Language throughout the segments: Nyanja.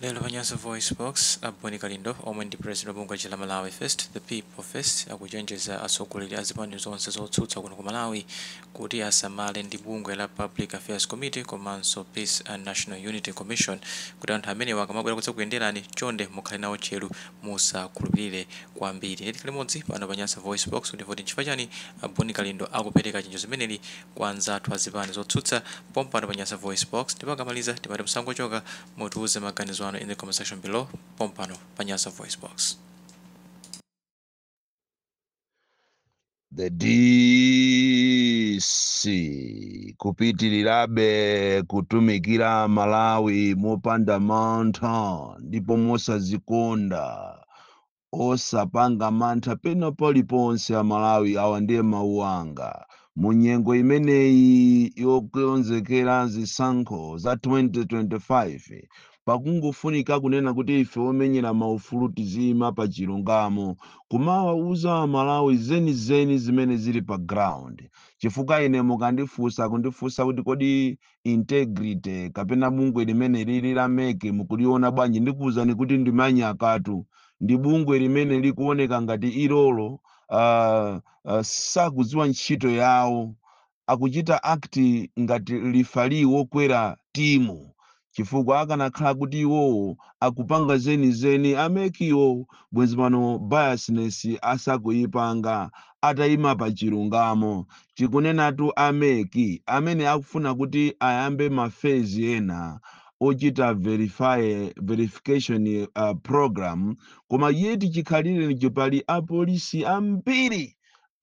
Lero pa Nyasa VoiceBox, a Bon Kalindo omwe ndi president wa bungwe lija la Malawi First, The People First, akuchenjeza atsogoleri a zipani zonse zotsutsa kuno ku Malawi kuti asamale ndi bungwe la Public Affairs Committee komanso Peace and National Unity Commission kuti anthu amenewa akamabwera kudzakuyenderani, chonde mukhale nawo tcheru, musakhulupirire kwambiri. Ndiye tikhale limodzi pano pa Nyasa VoiceBox kuti timve kuti n'chifukwa chani a Bon Kalindo akupereka chenjezo limeneli kwa anzathu a zipani zotsutsa pompano pa Nyasa VoiceBox ndipo akamaliza tipate nsangachokere Mutiuze maganizo anu in the comment section below pompano pa Nyasa Voice Box. The DC kupitirirabe kutumikira Malawi mopanda mantha ndipo mosazikonda Osapanga mantha pena paliponse a Malawi awa ndiye mawu anga. Mu nyengo imeneyi yokonzekera zisankho za 2025 pakungofunika kunena kuti ife omenyera maufulu tiziyima pa chilungamo kumawawuza a Malawi zenizeni zimene zili pa ground chifukwa ine mukandifunsa kundifunsa kuti kodi integrity kapena bungwe limene lili la mec mukuliona bwanji ndikuwuzani kuti ndi manyaka atu ndi bungwe limene likuoneka ngati ilolo uh, uh, sakudziwa ntchito yawo akuchita act ngati lifali wokwera timu chifukwa akanakhala kuti iwowo akupanga zenizeni a mec-wo bwenzi pano biasness asakuyipanga ataima pa chilungamo. Tikunenatu a mec amene akufuna kuti ayambe ma phase ena ochita verify, verification program koma yet chikhalirenicho pali apolisi ambiri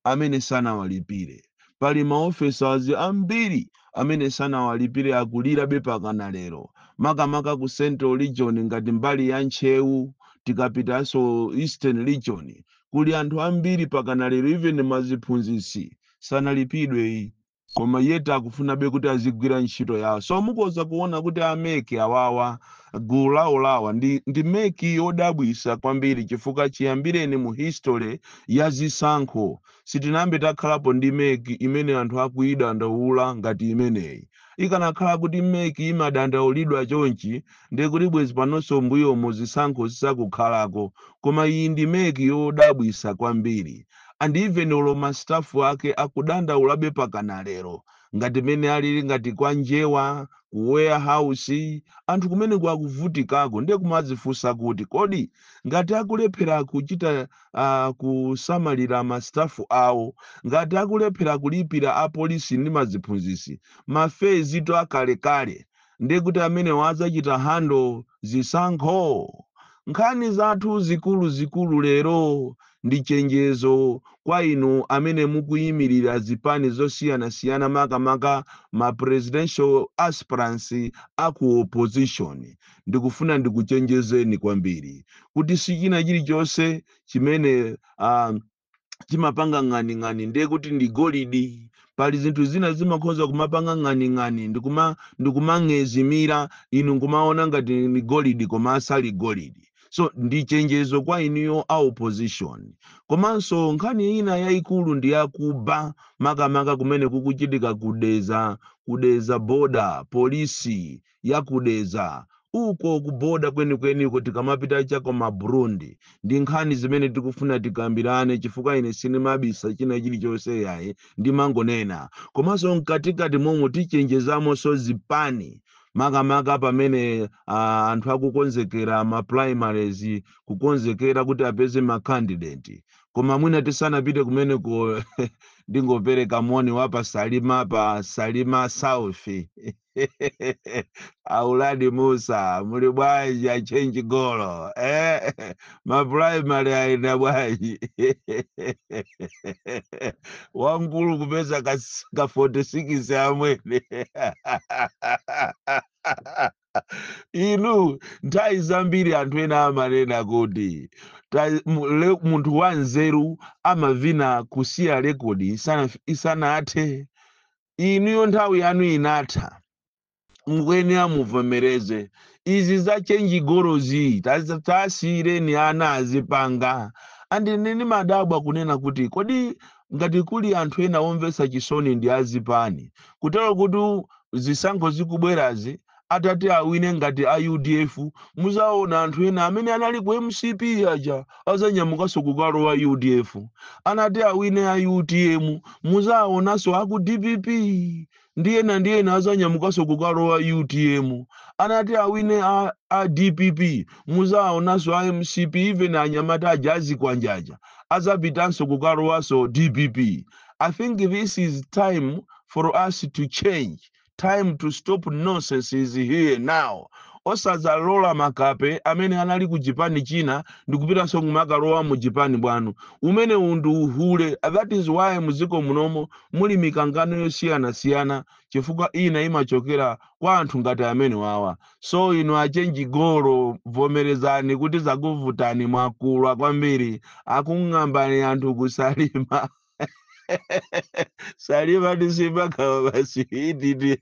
amene sanawalipire. Pali ma officers ambiri amene sanawalipire akulirabe pakana lero makamaka ku central region ngati mbali ya Ntcheu tikapitanso eastern region kuli anthu ambiri pakana lero even maziphunzitsi sanalipidweyi koma yet akufunabe kuti azigwira ntchito yawo so mukoza kuona kuti a mec awawa gulu lawoli awa ndi, ndi mec yodabwisa kwambiri chifukwa chiyambireni mu history ya zisankho sitinayambe takhalapo ndi mec imene anthu akuidandaula ngati imeneyi Ikanakhala kuti mec imadandaulidwa chonchi nde kuti bwezi panonso mbuyomu zisankho zisakukhalako koma iyi ndi mec yodabwisa kwambiri and even olo ma staff ake akudandaulabe pakana lero ngati mene alili ngati kwa njewa ku warehouse anthu kumeneko akuvutikako nde kumadzifunsa kuti kodi ngati akulephera kuchita uh, kusamalira ma staff awo ngati akulephera kulipira apolisi ndi maziphunzisi mafezi to akalekale ndiye kuti amenewo adzachita handle zisankho nkhani zathu zikuluzikulu lero ndi chenjezo kwa inu amene mukuyimirira zipani zosiyanasiyana makamaka ma presidential aspirants a ku opposition ndikufuna ndikuchenjezeni kwambiri kuti si china chilichonse chimene ah, chimapanga ng'aning'ani ndiye kuti ndi golidi pali zinthu zina zimakhoza kumapanga ng'aning'ani ndikuma ndikumang'ezimira inu nkumaona ngati ni golidi koma asali golidi so ndi chenjezo kwa inuyo a opposition komanso nkhani ina yayikulu ndi yakuba makamaka kumene kukuchitika ku Dedza ku Dedza border polisi ya ku Dedza. Uko ku border kwenikweniko tikamapita cha ku ma Burundi. Ndi nkhani zimene tikufuna tikambirane chifukwa ine sindimabisa china chilichonse yayi ndimangonena. Komanso mkatikati momo tichenjezamonso zipani makamaka pamene ah, anthu akukonzekera ma primaries kukonzekera kuti apeze ma candidate. Koma mwina tisanapite kumeneko ndingopereka moni wa pa Salima pa Salima South. auladi musa muli bwanji a chenji golo eh? ma primary ayenda bwanji wamkulu kupeza ka, ka 46 amwene inu nthawi zambiri anthu ena amanena kuti ta- mu- le- munthu wanzeru amavina kusiya rekodi isana- isanathe inuyo nthawi yanu inatha mukuyenera muvomereze izi za chenji golozi tazi- tasiyireni ana azipanga and ine ndimadabwa kunena kuti kodi ngati kuli anthu ena omvetsa chisoni ndi azipani kutero kuti zisankho zikubwerazi atati awine ngati a udf muzaona anthu ena amene anali ku mcp aja azanyamukaso kukalowa udf atati awine a utm muzaonaso aku dpp ndi ena ndi ena azanyamukaso kukalowa utm atati awine a, a dpp muzaonaso a mcp even anyamata aja azikwanja aja azapitanso kukalowaso dpp i think this is time for us to change time to stop nonsense is here now osazalola makape amene anali ku chipani china ndikupitanso kumakalowa mu chipani bwanu umenewu ndi uhule that is why muziko munomo muli mikangano yosiyanasiyana chifukwa ina imachokera kwa anthu ngati amenewawa so inu achenji golo vomerezani kuti zakuvutani mwagulwa kwambiri akung'ambani anthu kusalima Salima ndi simakhawa basi ididi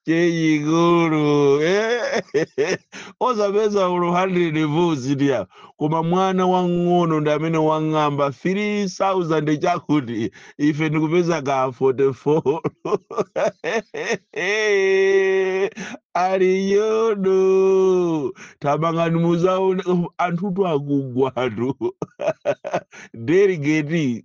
chechikulu eh. osapeza olo 100 votes koma mwana wang'ono ndi amene wang'amba 3000 chakuti ife ndikupeza ka 44 aliyodo tamangani muzaona anthutu akugwatu delegate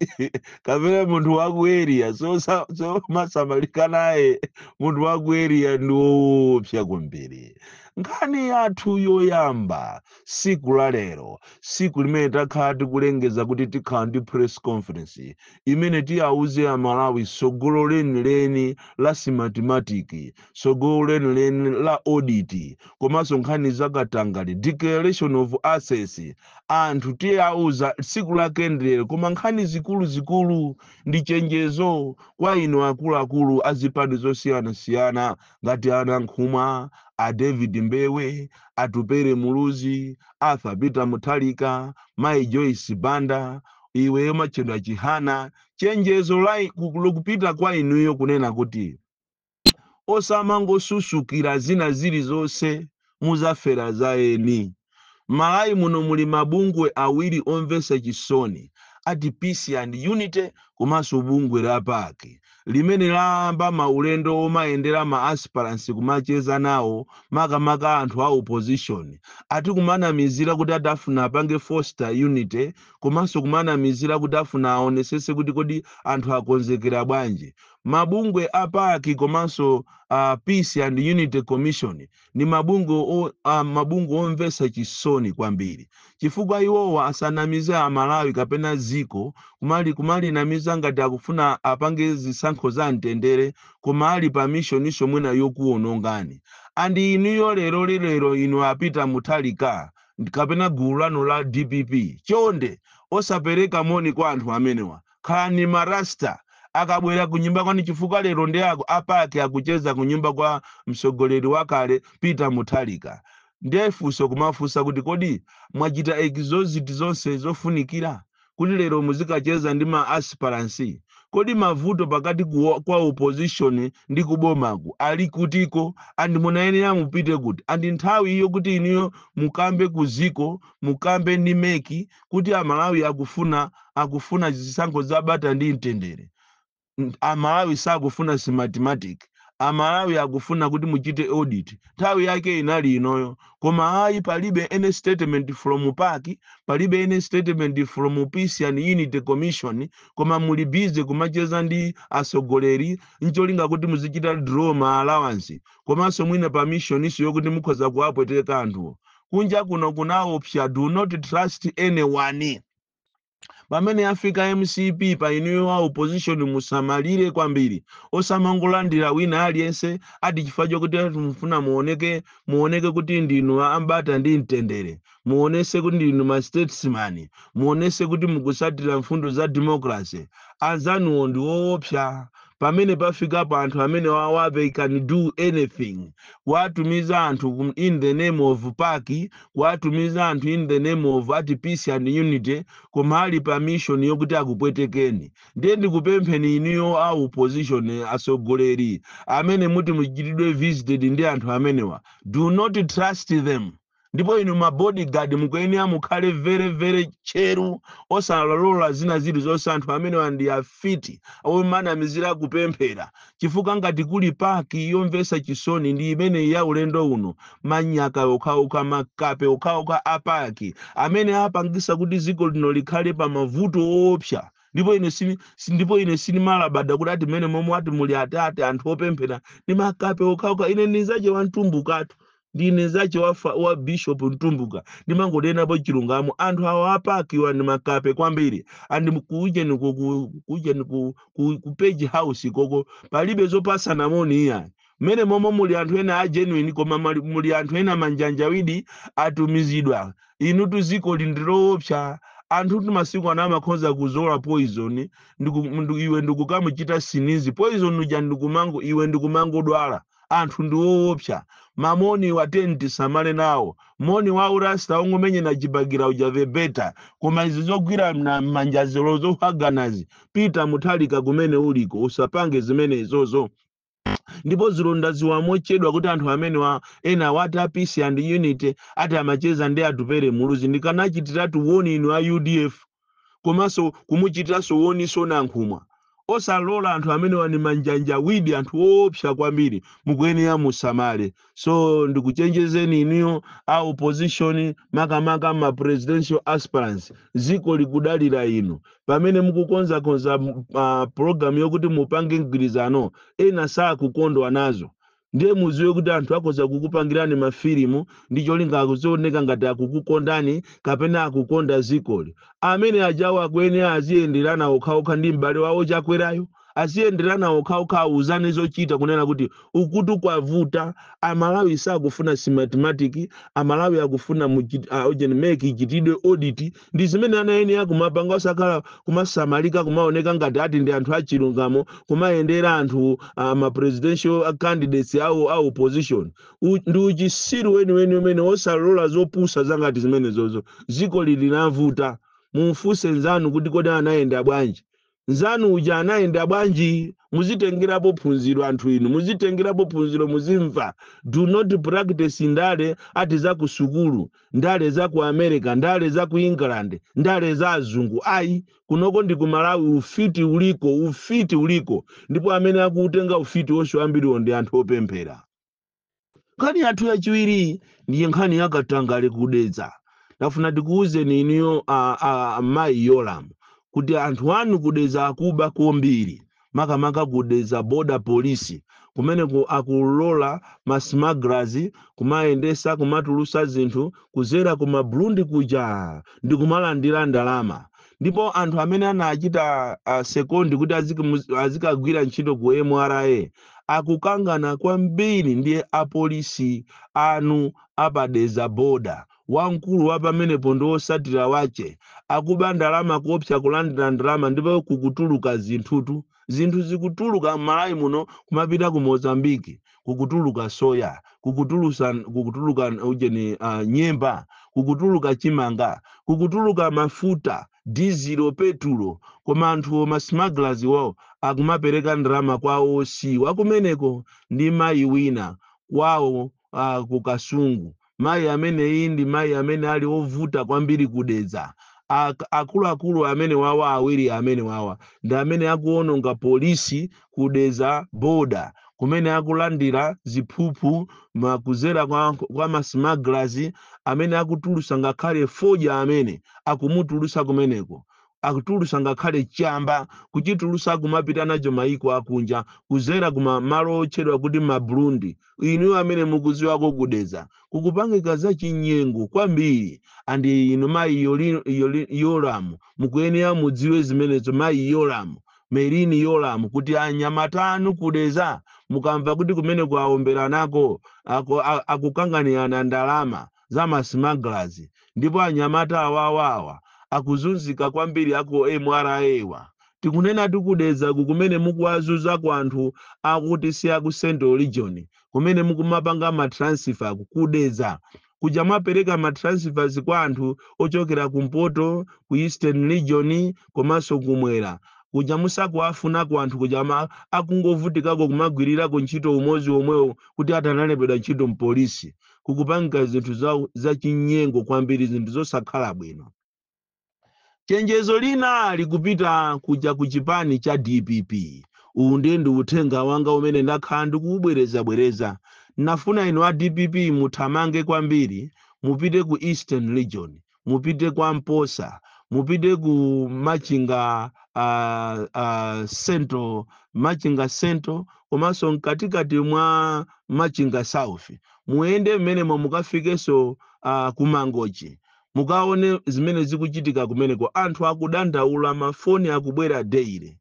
kapena munthu wa ku area osamasamalika naye munthu wa ku area ndi woopsa kwambiri nkhani yathu yoyamba siku la lero siku limene takhala tikulengeza kuti tikhala ndi press conference imene tiwauze amalawi sogolo lenileni la simatimatiki tsogolo lenileni la audit komanso nkhani za katangale declaration of assets anthu tiwauza tsiku lake ndilero koma nkhani zikuluzikulu ndi chenjezo kwa inu akuluakulu a zipani zosiyanasiyana ngati a nankhumwa a david mbewe atupere muluzi arthur peter mutharika mai joyce banda iweyo matchedwa chihana chenjezo lokupita kwa inuyo kunena kuti osamangosusukira zina zilizonse muzafera za eni. Malawi muno muli mabungwe awiri omvesa chisoni ati Peace and Unity komanso bungwe la pac limene layamba maulendo omayendera ma aspirants kumacheza nawo makamaka anthu a opposition ati kumanamizira kuti ati afuna apange foster unity komanso kumanamizira kuti afuna aonesese kuti kodi anthu akonzekera bwanji Mabungwe a pac komanso a Peace and Unity Commission ndi mabungwe omvetsa chisoni kwambiri chifukwa iwowa asanamize a Malawi kapena dziko kumali, kumalinamiza ngati akufuna apange zisankho za mtendere koma ali pa missioninso mwina yokuonongani. And inuyo lero li lero inu a Peter Mutharika kapena gulu lanu la dpp chonde osapereka moni kwa anthu amenewa. Khalani ma Rasta akabwera kunyumba kwanu chifukwa lero ndi ako a PAC akucheza kunyumba kwa mtsogoleri wakale Peter Mutharika nde funso kumafunsa kuti kodi mwachita exhaust zonse zofunikira kuti lero muzikacheza ndi ma aspirants? Kodi mavuto pakati kwa opposition ndi ku bomaku ali kutiko and munayenera mupite kuti and nthawi yokuti inuyo mukambe ku dziko mukambe ndi mec kuti a Malawi akufuna akufuna zisankho za bata ndi mtendere. N- A Malawi sakufuna smartmatic. A Malawi akufuna kuti muchite audit. Nthawi yake inali inoyo. Koma ayi palibe any statement from PAC, palibe any statement from Peace and Unity Commission, koma muli busy kumacheza ndi atsogoleri ncholinga kuti muzichita draw ma allowance komanso mwina pa mission yokuti mukhoza kuwapweteka anthuwo kunja kuno kunaopsa do not trust anyone pamene yafika mcp pa inuyo a opposition musamalire kwambiri osamangolandira wina aliyense ati chifukwa chokuti ati mufuna muoneke muoneke kuti ndinu ambata ndi mtendere muonese kuti ndinu ma statesman muonese kuti mukusatira mfundo za democracy anzanuwo ndi woopsa pamene pafikapo anthu amenewawa they can do anything kuwatumiza anthu kum- in the name of pac kuwatumiza anthu in the name of ati peace and unity koma ali pa mission yokuti akupwetekeni ndiye ndikupempheni inuyo a opposition eh, atsogoleri amene muti muchitidwe visited ndi anthu amenewa do not trust them ndipo inu ma bodyguard mukuyenera mukhale very very tcheru osalola zina zilizonse anthu amenewa ndi afiti omanamizira kupemphera chifukwa ngati kuli pac yomvesa chisoni ndi imeneyi ya ulendo uno manyaka okhaokha makape okhaokha a pac amene apangisa kuti dziko lino likhale pa mavuto oopsa ndipo ine sini si- ndipo ine sinimalabada kuti ati mmene momwe ati muli ati anthu opemphera ndi makape okhaokha ine ndinzache wamtumbukatu ndine nzache wa, fa- wa bishop mtumbuka ndimangonenapo chilungamo anthu awa a pac-wa ndi makape kwambiri and mu- kuujeni ku- ku- kuujeni ku, ku, ku page house koko palibe zopasana moni iya mmene momwe muli anthu ena a genuine koma mali- muli anthu ena manjanjawidi atumizidwa inutu ziko ili ndi loopsa anthutu masiku ano amakhoza kuzola poison ndiku- ndu- iwe ndikukamuchita sneeze poison uja ndikumango iwe ndikumangodwala anthu ndi owopsa mamoniwa tiyeni tisamale nawo moni wa urasta ongomenyana chibakera uja the better koma izi zogwirana mmanjazi zohaganazi peter mutharika kumene uliko usapange zimenezozo ndipo zilo ndadziwa mochedwa kuti anthu amenewa enawa ati a peace and unity ati amacheza ndi atupere muluzi ndikanachitiratu warn inu a udf komanso kumuchitiranso zomwezonso Nankhumwa. Osalola anthu amenewa ni manjanjawidi anthu oopsa kwambiri mukuyenera musamale. So ndikuchenjezeni inuyo a opposition makamaka ma presidential aspirants dziko likudalira inu. Pamene mukukonzakonza uh, program yokuti mupange mgwirizano ena sakukondwa nazo. ndiye muziwe kuti anthu akhoza kukupangirani mafilimu ndi cholinga azioneka ngati akukukondani kapena akukonda zikoli amene ajawo akuyenera aziyenderana okhaokha ndi m'bale wawo chakwerayo aziyenderana okhaokha awuzane zochita kunena kuti ukutu kwavuta amalawi sakufuna mathematics amalawi akufuna muchit- ah, ujeni MEC ichitidwe audit ndi zimene anayenera kumapanga osakhala kumasamalika kumaoneka ngati ati ndi anthu achilungamo kumayendera anthu uh, ma presidential candidates awo a opposition U, ndi uchisiru weniweni umene osalola zopusa zangati zimenezozo ziko lili lavuta mumfunse nzanu kuti kodi anayenda bwanji nzanu uja anayenda bwanji muzitengerapo phunziro anthu inu muzitengerapo phunziro muzimva do not practice ndale ati za ku sukulu ndale za ku america ndale za ku england ndale za azungu ayi kunoko ndi ku malawi ufiti uliko ufiti uliko ndipo amene akutenga ufiti wonse ambiriwo ndi anthu opemphera Nkhani yathu yachiwiri ndiye nkhani ya katangale ku Dedza. Ndafuna ndikuwuzeni inuyo a- a- a- mayi Yolamu kuti anthu anu ku Dedza akuba kwambiri makamaka ku Dedza border police kumene akulola ma smugglers kumayendesa kumatulusa zinthu kuzera ku ma Burundi kuja ndi kumalandira ndalama ndipo anthu amene anachita uh, sekondi kuti azikamu- azikagwira ntchito ku MRA akukangana kwambiri ndi apolisi anu a pa Dedza border, wamkulu wa pamenepo ndi osatira wache akuba ndalama kuopsa kulandira ndalama ndipo kukutuluka zinthutu, zinthu zikutuluka m'Malawi muno kumapita ku Mozambique, kukutuluka soya, kukutulusa, kukutuluka ujeni, uh, nyemba, kukutuluka chimanga, kukutuluka mafuta. dizilo, petulo koma anthuwo ma smugglers wawo akumapereka ndalama kwa OC wakumeneko ndi mayi wina kwawo ku Kasungu mayi ameneyi ndi mayi amene ali ovuta kwambiri ku Dedza ak akuluakulu amenewawa awiri amenewawa ndi amene akuwononga police ku Dedza border kumene akulandira ziphuphu kudzera kwa, kwa ma smugglers amene akutulusa ngakhale fodya amene akumutulusa kumeneko akutulusa ngakhale chamba kuchitulusa kumapita nacho maiko akunja kudzera kuma malo otchedwa kuti ma Burundi inu amene mukudziwako ku Dedza kukupangika za chinyengo kwambiri and inu mayi Yoli- Yoli- Yoramu mukuyenera mudziwe zimenezo mayi Yoramu Merini Yolamu kuti anyamata anu ku Dedza mukamva kuti kumene kuja awomberanako ako- a- akukanganirana ndalama za masmugglers ndipo anyamata awawawa akuzunzika kwambiri aku MRA wa. Tikunenatu ku Dedza ku kumene mukuwazunza kwa anthu akuti si aku Central Region kumene mukumapanga ma transfer ku ku Dedza kuja mwapereka ma transfers kwa anthu ochokera kumpoto ku eastern region komanso kumwera kuja musakuwafuna kwa anthu kuja ama- akungovutikako kumagwirirako ntchito umodzi omwewo kuti atanalembedwa ntchito mpolisi kukupangika zinthu za, za chinyengo kwambiri zinthu zosakhala bwino Chenjezo lina likupita kuja ku chipani cha dpp. Uwu ndiye ndi uthenga wanga umene ndakhala ndikuubwerezabwereza. Nafuna inu a dpp muthamange kwambiri mupite ku Eastern Region, mupite kwa Mposa, mupite ku Machinga uh, uh, Central, Machinga Central komanso mkatikati mwa Machinga South. Muyende mmenemo mukafikenso uh, ku Mangochi. Mukaone zimene zikuchitika kumeneko anthu akudandaula ma phone akubwera daily.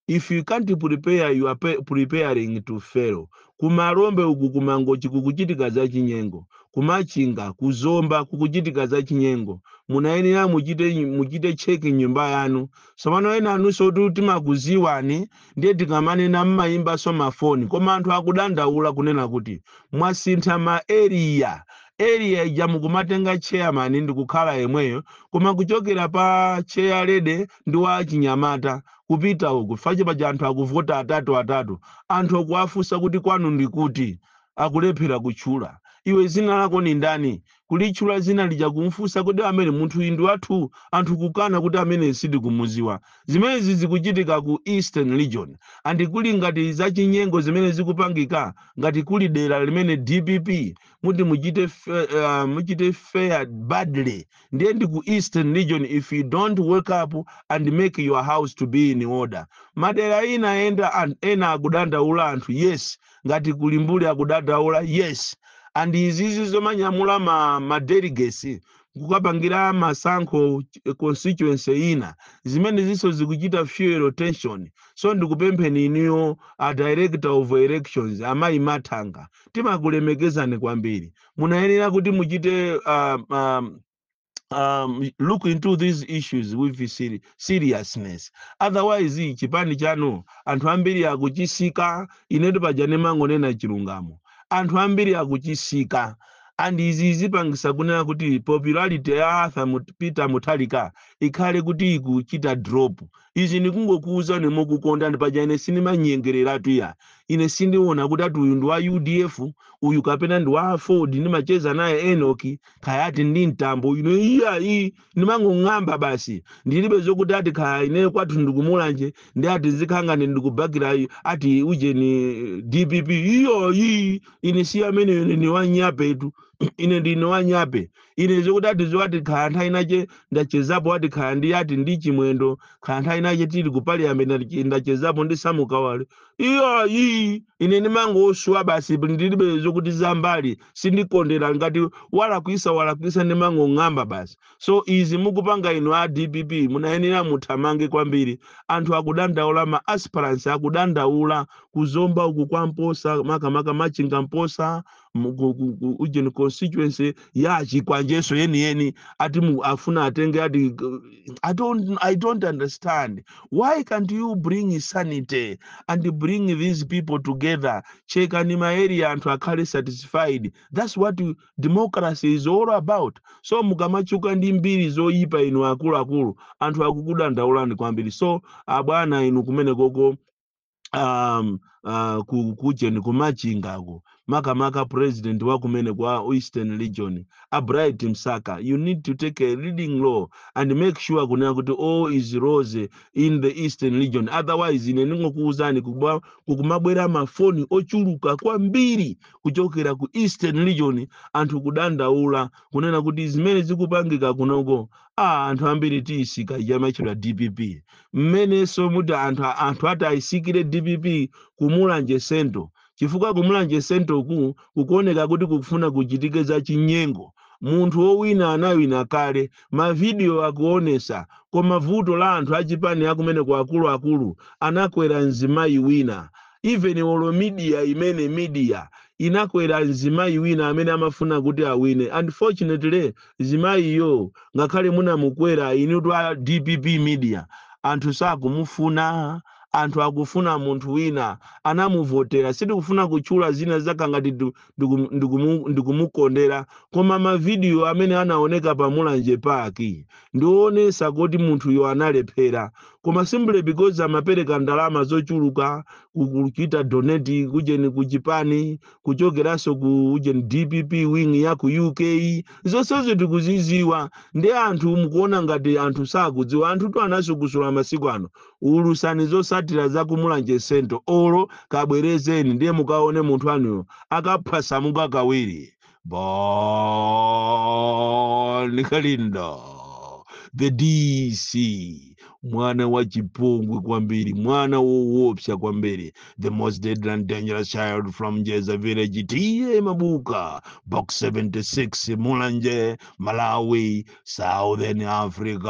If you can't prepare you are preparing to fail. Ku Malombe uku ku Mangochi kukuchitika za chinyengo. Ku Machinga, ku Zomba kukuchitika za chinyengo. Munayenera muchite muchite check m'nyumba yanu. Tsopano ena anunsotu timakuziwani Ndiye tikamanena mmayimbanso ma phone koma anthu akudandaula kunena kuti mwasintha ma area, area ija mukumatenga chairman ndikukhala yemweyo koma kuchokera pa chair lady ndi wa achinyamata kupita uku chifukwa paja anthu akuvota atatu atatu anthu akuwafunsa kuti kwanu ndikuti akulephera kutchula iwe dzina lako ndi ndani kulitchula dzina lija kumfunsa kodi amene munthuyi ndiwathu anthu kukana kuti ameneyi sitikumuziwa zimenezi zikuchitika ku eastern region and kuli ngati zachinyengo zimene zikupangika ngati kuli dera limene dpp muti muchite fe, uh, muchite fare badly ndiye ndi ku eastern region if you don't wake up and make your house to be in order madera ina enda an- ena akudandaula anthu yes ngati kuli mbuli akudandaula yes and izizi zomanyamula ma, ma delegates kukapangira masankho ch- constituency ina zimenezinso zikuchita fuel tension so ndikupempheni inuyo a director of elections amayi mathanga timakulemekezani kwambiri munayenera kuti muchite uh, um, um, look into these issues with seri- seriousness otherwise chipani chanu anthu ambiri akuchisika inetu paja ndimangonena chilungamo anthu ambiri akuchisika and izi zipangisa kunena kuti popularity ya arthur Mut- peter Mutharika ikhale kuti ikuchita drop izi ndikungokuwuzani mokukonda ndi paja ine sindimanyengereratu ya ine sindiona kuti ati uyu ndi wa udf uyu kapena ndi wa aford ndimacheza naye enoki kaya ati ndi mtambo ine iyayi ndimangong'amba basi ndilibe zokuti ati kaya ineyo kwathu ndikumulanje ndi ati zikhangane ndikubakira iyo ati ujeni dpp iyayi ine si amene ine ni wanyapetu ine ndine wanyape ine zokuti ati zo ati kaya nthawi inache ndachezapo ati kaya ndi ati ndi chimwendo kaya nthawi inache tili ku parliament ndache- ndachezapo ndi Sam Kawale iyayi ine ndimangoswa basi ndilibe zokuti zambali sindikondera ngati walakwisa walakwisa ndimangong'amba basi so izi mukupanga inu a dpp munayenera muthamange kwambiri anthu akudandaula ma aspirants akudandaula ku Zomba uku kwa mposa makamaka machinga mposa mu- ku- ku- ku- ujeni constituency ya Chikwanje so yeniyeni ati mu- afuna atenge ati I don't, i don't understand why can't you bring sanity and bring these people together chekani ma area anthu akhale satisfied that's what democracy is all about so mukamachuka ndi mbiri zoyipa inu akuluakulu anthu akukudandaulani kwambiri so abwana inu kumenekoko um, uh, ku, kujeni ku Machingako makamaka president wa kumeneko wa eastern region a bright msaka you need to take a leading role and make sure kunena kuti all is rose in the eastern region otherwise ine ndingokuwuzani kuba- kukumabwera mafoni ochuluka kwambiri kuchokera ku eastern region anthu kudandaula kunena kuti zimene zikupangika kunoko a anthu ambiri tiyisika yamatchedwa dpp mmenenso muti anthu anthu atayisikire dpp ku Mulanje Central chifukwa ku Mulanje Central ku kukuoneka kuti kukufuna kuchitike za chinyengo. Munthu owina anawina kale, ma video akuonesa, koma vuto la anthu achipani akumeneko akulu akulu anakwera mzimayi wina even olo media imene media inakwera mzimayi wina amene amafuna kuti awine unfortunately mzimayiyo ngakhale munamukwera inutu a dpp media anthu sakumufuna anthu akufuna munthu wina anamuvotera sitikufuna kutchula zina zakhala ngati ndikumukondera koma mavidiyo amene anaoneka pa mulanje park ndioonesa kuti munthuyo analephera koma simply because amapereka ndalama zochuluka ku- kuchita donate kujeni kuchipani kuchokeranso ku ujeni dpp wing ya ku uk zonsezo tikuziziwa nde anthu mukuona ngati anthu sakudziwa anthutu anasukusula masiku ano ulusani zosatira za ku mulanje central olo kabwerezeni ndiye mukaone munthu anuyo akaphwasamuka kawiri bon kalindo the dc mwana wa chipongwe kwambiri mwana woopsa kwambiri the most deadly and dangerous child from jeza village t/a mabuka box 76 mulanje malawi Southern Africa.